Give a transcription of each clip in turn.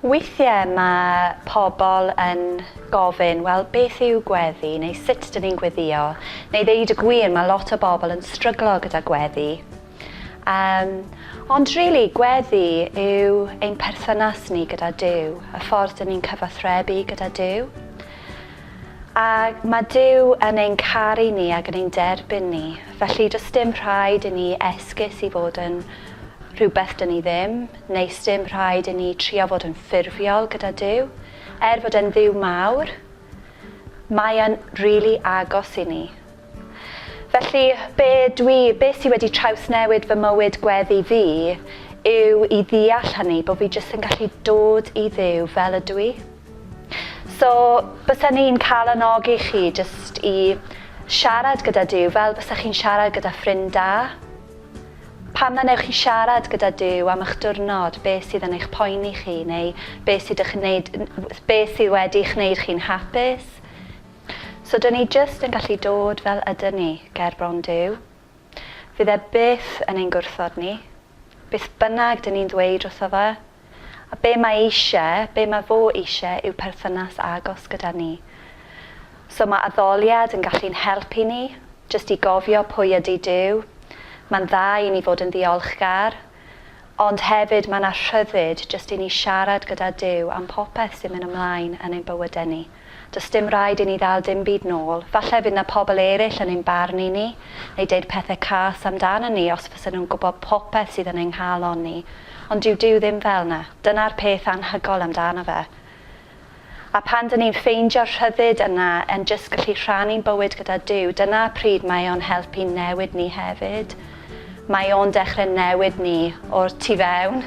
Weithiau mae pobl yn gofyn, wel, beth yw gweddi, neu sut dyn ni'n gweddïo, neu ddeud y gwir, mae lot o bobl yn stryglo gyda gweddi. Yym, ond rili, gweddi yw ein perthynas ni gyda Duw, y ffordd dyn ni'n cyfathrebu gyda Duw. A mae Duw yn ein caru ni ac yn ein derbyn ni, felly does dim rhaid i ni esgus i fod yn rhywbeth dyn ni ddim, neu sdim rhaid i ni trio fod yn ffurfiol gyda Duw. Er fod e'n Dduw mawr, mae e'n rili agos i ni. Felly, be dwi, be sy wedi trawsnewid fy mywyd gweddi fi yw i ddeall hynny, bod fi jyst yn gallu dod i Dduw fel ydw i. So, bysen i'n cael anogi chi jyst i siarad gyda Duw fel bysach chi'n siarad gyda ffrind da. Pam na newch chi siarad gyda Duw am eich diwrnod, be sydd yn eich poeni chi, neu be sydd, ych wneud, be sydd wedi eich wneud chi'n hapus, So 'dyn ni jyst yn gallu dod fel ydyn ni ger bron Duw. Fydd e byth yn ein gwrthod ni, beth bynnag 'dyn ni'n ddweud wrtho fe. A be mae eisiau, be mae fo eisiau yw perthynas agos gyda ni. So mae addoliad yn gallu'n helpu ni jyst i gofio pwy ydy Duw. Mae'n dda i ni fod yn ddiolchgar. Ond hefyd mae 'na rhyddid jyst i ni siarad gyda Duw am popeth sy'n mynd ymlaen yn ein bywydau ni. Does dim rhaid i ni ddal dim byd nôl. Falle fydd 'na pobl eraill yn ein barnu ni neu deud pethe cas amdanon ni os fysen nhw'n gwybod popeth sydd yn ein nghalon ni. Ond dyw Duw ddim fel 'na. Dyna'r peth anhygoel amdano fe. A phan dŷn ni'n ffeindio'r rhyddid yna yn jyst gallu rhannu'n bywyd gyda Duw, dyna pryd mae o'n help i'n newid ni hefyd. Mae o'n dechre newid ni o'r tu fewn.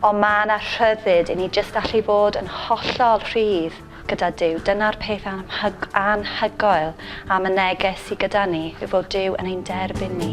Ond mae yna rhyddid i ni jyst allu fod yn hollol rhydd gyda Duw. Dyna'r peth anhyg- anhygoel am y neges sy gyda ni, yw fod Duw yn ein derbyn ni.